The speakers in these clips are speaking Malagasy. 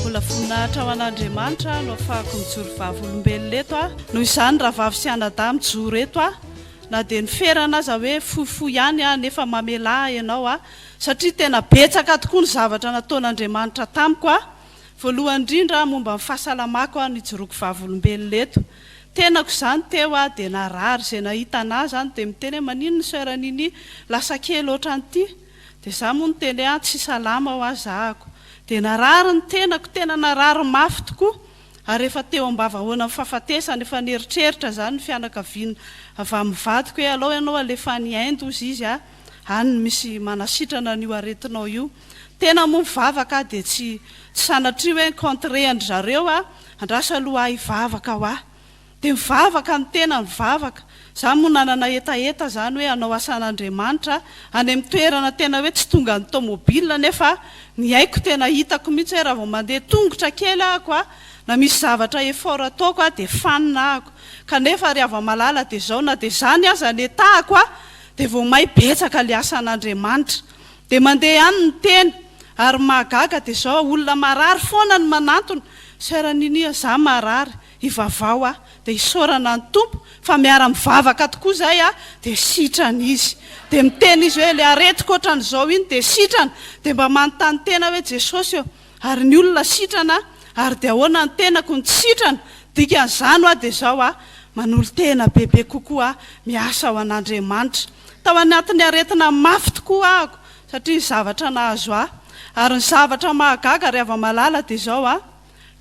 Mbola voninahitra ho an'Andriamanitra aho no afahako mijoro vavolombelona eto aho. Noho izany rahavavy sy anadahy mijoro eto aho na dia ny ferana aza hoe fohifohy ihany aho nefa mamelà ahy ianao aho satria tena betsaka tokoa ny zavatra nataon'Andriamanitra tamiko aho. Voalohany indrindra momba ny fahasalamako aho nijoroako vavolombelona eto. Tenako izany teo aho dia narary izay nahita anah izany dia miteny hoe maninona soeur Nini lasa kely otran'ity dia za moa niteny hoe ah tsy salama hoa zahako dia narary ny tenako tena narary mafy tokoa ary efa teo ambavahoanan'ny fafatesana efa nieritreritra zany ny fianakaviana avy amin'ny vadiko hoe alao ianao alefa any Inde hozy izy ah any no misy manasitrana an'io aretinao io Tena moa mivavaka aho dia tsy tsy sanatria hoe contrer an-dry zareo aho, andrasa aloha aho hivavaka hoa. Dia mivavaka ny tena mivavaka, za moa nanana hetaheta zany hoe hanao asan'Andriamanitra any amin'ny toerana tena hoe tsy tonga ny tomobile nefa ny aiko tena hitako mihitsy hoe raha vao mandeha tongotra kely ahako a, na misy zavatra effort ataoko a dia fanina ahako. Kanefa ry hava-malala dia zao na dia zany aza ny etahako a dia vao may betsaka ilay asan'Andriamanitra. Dia mandeha ihany ny tena. Ary ny mahagaga dia izao, olona marary foana no manantona, Soeur Ninia za marary, hivavaho aho, dia hisaorana ny Tompo fa miara mivavaka tokoa izay aho, dia sitrana izy. Dia miteny izy hoe ilay aretiko otran'izao iny dia sitrana, dia mba manontany tena hoe Jesosy ô, Ary ny olona sitrana ary dia ahoana ny tenako no tsy sitrana? Dikan'izany hoa dia izao aho, manolo-tena bebe kokoa, miasa ho an'Andriamanitra. Tao anatin'ny aretina mafy tokoa ahako satria ny zavatra nahazo ahy. Ary ny zavatra mahagaga ry hava-malala dia izao aho,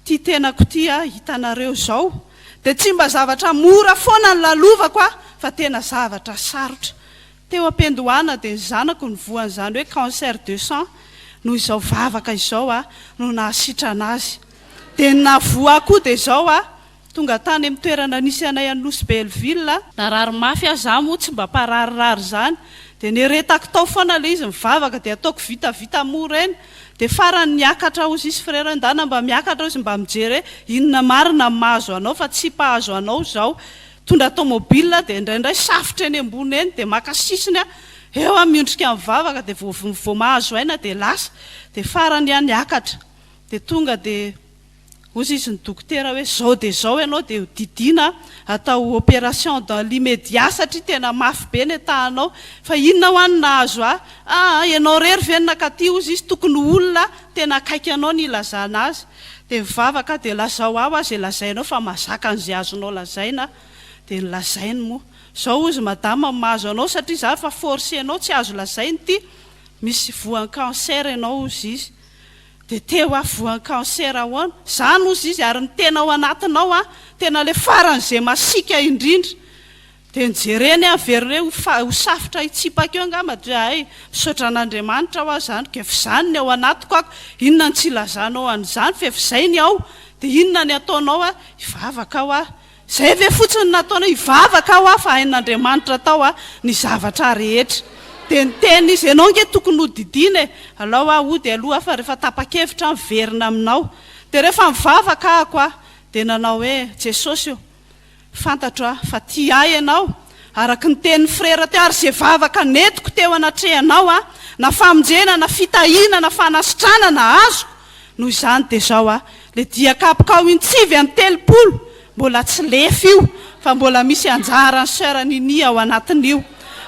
ity tenako ity aho hitanareo izao, dia tsy mba zavatra mora foana no lalovako aho fa tena zavatra sarotra. Teo am-piandohana dia ny zanako no voan'izany hoe cancer de sang noho izao vavaka izao aho no nahasitrana azy. Dia ny nahavoa ahy koa dia izao aho tonga tany amin'ny toerana nisy anay any Nosy Belleville. Narary mafy aho, izaho moa tsy mba mpararirary izany dia neretako tao foana ilay izy, ny vavaka dia ataoko vitavita moa ireny. Dia farany niakatra hozy izy frera hoe ndana mba miakatra hozy mba mijery hoe inona marina no mahazo anao fa tsy mpahazo anao izao. Mitondra tomobil dia indraindray safotra eny ambony eny dia maka sisiny aho eo aho miondrika mivavaka dia vao mahazo aina dia lasa dia farany aho niakatra dia tonga dia Hozy izy ny dokotera hoe zao dia zao ianao dia ho didiana atao operation dans l'immédiat satria tena mafy be ny entahanao fa inona hoa no nahazo ahy aa ianao rery ve no nakaty hozy izy tokony ho olona tena akaiky anao no hilazana azy Dia mivavaka dia lazao aho aza izay lazainao fa mazaka an'izay azonao lazaina dia ny lazainy moa zao hozy madama ny mahazo anao satria zany fa forcenao tsy azo lazaina ity misy voan'ny cancer ianao hozy izy dia te ho avy voan'ny cancer ahoana zany hozy izy ary ny tena ao anatinao an tena le faran'izay masiaka indrindra Dia ny jereny an very re ho fa ho safotra hitsipaka eo ngamba ndry ahay misaotra an'Andriamanitra hoa zany kef zany ny ao anatiko ako inona ny tsy ilazanao an'izany fef zay ny ao dia inona ny ataonao a hivavaka hoa zay ve fotsiny ny nataonao hivavaka hoa fa hain'Andriamanitra tao a ny zavatra rehetra dia niteny izy ianao nge tokony hodidiana e alao hoa hody aloha fa rehefa tapakevitra an miverina aminao dia rehefa mivavaka ako a dia nanao hoe Jesosy o Fantatro aho fa tia ahy ianao, araka ny tenin'ny frera teo, ary izay vavaka nentiko teo anatrehanao aho, na famonjena, na fitahiana, na fanasitranana, azoko, noho izany dia izao aho, ilay dia kapokao intsivy an'ny telopolo, mbola tsy lefy io, fa mbola misy anjaran'i Soeur Nini ao anatin'io,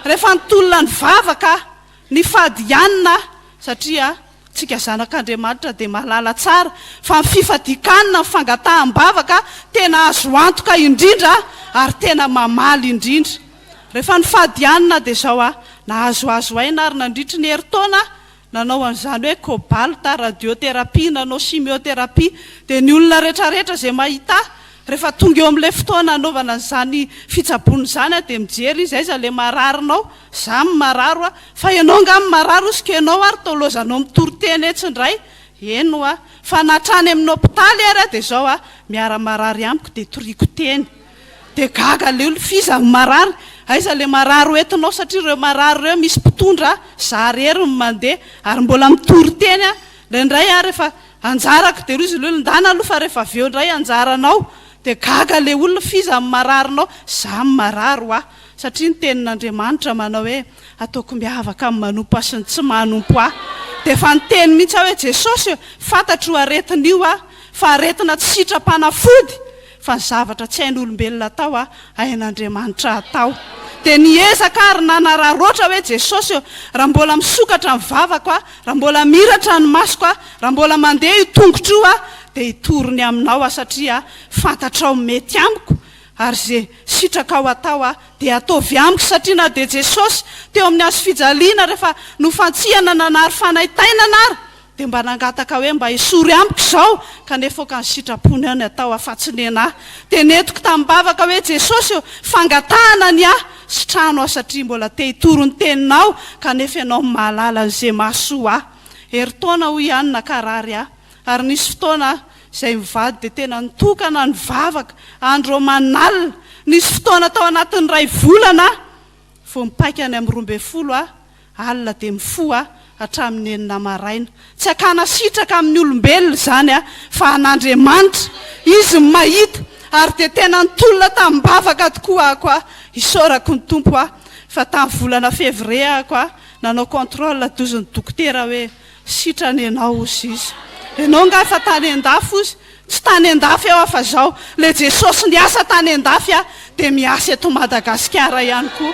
rehefa nitolona nivavaka aho, nifady hianina aho, satria. Tsika zanak'Andriamanitra dia mahalala tsara fa ny fifadian-kanina, ny fangataham-bavaka tena azo antoka indrindra ary tena mamaly indrindra. Rehefa nifady hanina dia izao aho, nahazoazo aina ary nandritry ny herintaona nanao an'izany hoe cobalt, radiothérapie, nanochimiothérapie dia ny olona rehetrarehetra izay mahita ahy Rehefa tonga eo amin'ilay fotoana hanaovana izany fitsaboana izany aho dia mijery izy, aiza ilay mararinao? Za no marary hoa? Fa ianao angaha no marary hozy ka ianao ary taolozanao mitory teny etsy indray? Eny hoa? Fa na hatrany amin'ny hopitaly ary aho dia izao a! Miara marary amiko dia toriako teny. Dia gaga ilay olona, f'iza no marary? Aiza ilay marary ho entinao satria ireo marary ireo misy mpitondra a! Za irery no mandeha ary mbola mitory teny aho. Indraindray ary efa Anjarako de rozy lolo ndana aloha fa rehefa avy eo ndray anjaranao de gaga le olona f'iza no marary nao za no marary wa satria ny tenin'Andriamanitra manao hoe ataoko miavaka amin'ny manompa sy ny tsy manompo ahy de efa niteny mintsy aho hoe Jesosy fantatro io aretina io aho fa aretina tsy sitram-panafody fa zavatra tsy hain'olombelona atao a hain'Andriamanitra atao dia niezaka aho ry nanararoatra hoe Jesosy ô raha mbola misokatra ny vavako a raha mbola miratra ny masoko a raha mbola mandeha io tongotro io aho dia hitory ny aminao aho satria fantatrao ny mety amiko ary ze sitrakao atao a dia ataovy amiko satria na dia Jesosy teo amin'ny hazofijaliana rehefa nofantsihana nanary fanaintainana ary Dia mba nangataka hoe mba esory amiko izao kanefa aoka ny sitrapony aho ny atao afatsy nena ahy. Dia nentiko tamin'ny bavaka hoe Jesosy ô, fangatahana ny ahy, sitrano aho satria mbola te hitory ny teninao kanefa ianao no mahalala ny ze mahasoa ahy. Herintaona hoy aho no nakarary ahy. Ary nisy fotoana aho izay mivady dia tena nitokana nivavaka andro aman'alina. Nisy fotoana tao anatin'ny iray volana aho vao mipaika any amin'ny roa ambin'ny folo aho. alina dia mifoha hatramin'ny enina maraina. Tsy hakana sitraka amin'ny olombelona izany fa an'Andriamanitra. Izy no mahita. Ary dia tena nitolona tamim-bavaka tokoa aho koa, isaorako ny Tompo aho, fa tamin'ny volana février aho koa nanao contrôle dozy ny dokotera hoe sitrana ianao ozy izy. Ianao nga efa tany an-dafy ozy? Tsy tany an-dafy aho fa izao, ilay Jesosy niasa tany an-dafy dia miasa eto Madagasikara ihany koa.